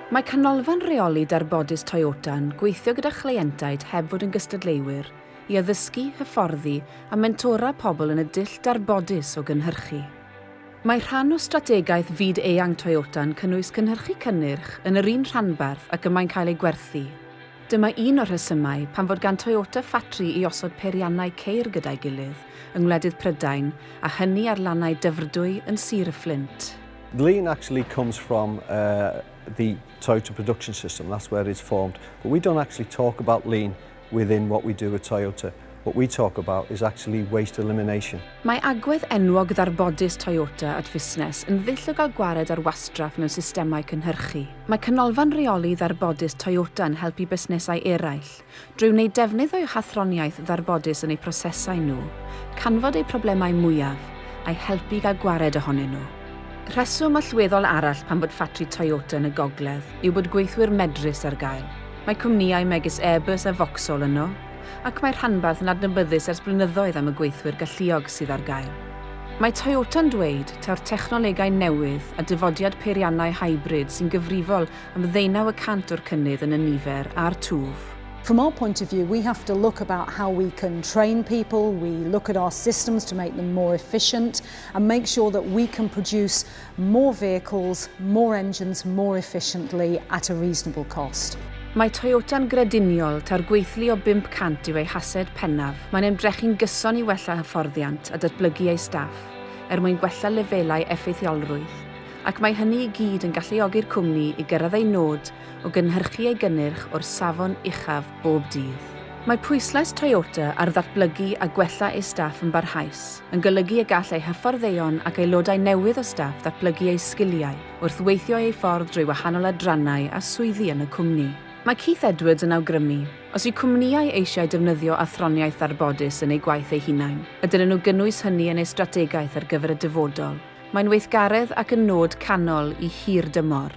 Mae Canolfan Rheoli Darbodus Toyota'n gweithio gyda chleientiaid heb fod yn gystadleuwyr i addysgu, hyfforddi a mentora pobl yn y dull darbodus o gynhyrchu. Mae rhan o strategaeth fyd-eang Toyota'n cynnwys cynhyrchu cynnyrch yn yr un rhanbarth ac y mae'n cael ei gwerthu. Dyma un o'r rhesymau pam fod gan Toyota ffatri i osod peiriannau ceir gyda'i gilydd yng ngwledydd Prydain a hynny ar lannau Dyfrdwy yn Sir y Fflint. The lean actually comes from the Toyota production system, that's where it's formed, but we don't actually talk about lean, within what we do at Toyota. What we talk about is actually waste elimination. Mae agwedd enwog ddarbodus Toyota at fusnes yn ddull o gael gwared ar wastraff mewn systemau cynhyrchu. Mae Canolfan Rheoli Ddarbodus Toyota yn helpu busnesau eraill, drwy wneud defnydd o'u hathroniaeth ddarbodus yn eu prosesau nhw, canfod eu problemau mwyaf, a'u helpu i gael gwared ohonyn nhw. Rheswm allweddol arall pam bod ffatri Toyota yn y gogledd yw bod gweithwyr medrus ar gael. Mae cwmnïau megis Airbus a Vauxhall yno, ac mae'r rhanbarth yn adnabyddus ers blynyddoedd am y gweithwyr galluog sydd ar gael. Mae Toyota'n dweud taw'r technolegau newydd a dyfodiad peiriannau hybrid sy'n gyfrifol am ddeunaw y cant o'r cynnydd yn y nifer a'r twf. From our point of view, we have to look about how we can train people, we look at our systems to make them more efficient and make sure that we can produce more vehicles, more engines more efficiently at a reasonable cost. Mae Toyota'n grediniol taw'r gweithlu o 500 yw ei hased pennaf. Mae'n ymdrechu'n gyson i wella hyfforddiant a datblygu ei staff, er mwyn gwella lefelau effeithiolrwydd, ac mae hynny i gyd yn galluogi'r cwmni i gyrraedd ei nod o gynhyrchu ei gynnyrch o'r safon uchaf bob dydd. Mae pwyslais Toyota ar ddatblygu a gwella ei staff yn barhaus, yn golygu y gall eu hyfforddeion ac aelodau newydd o staff ddatblygu eu sgiliau wrth weithio eu ffordd drwy wahanol adrannau a swyddi yn y cwmni. Mae Keith Edwards yn awgrymu, Os yw cwmnïau eisiau defnyddio athroniaeth ddarbodus yn eu gwaith eu hunain, a dylen nhw gynnwys hynny yn eu strategaeth ar gyfer y dyfodol, mae'n weithgaredd ac yn nod canol i hir dymor.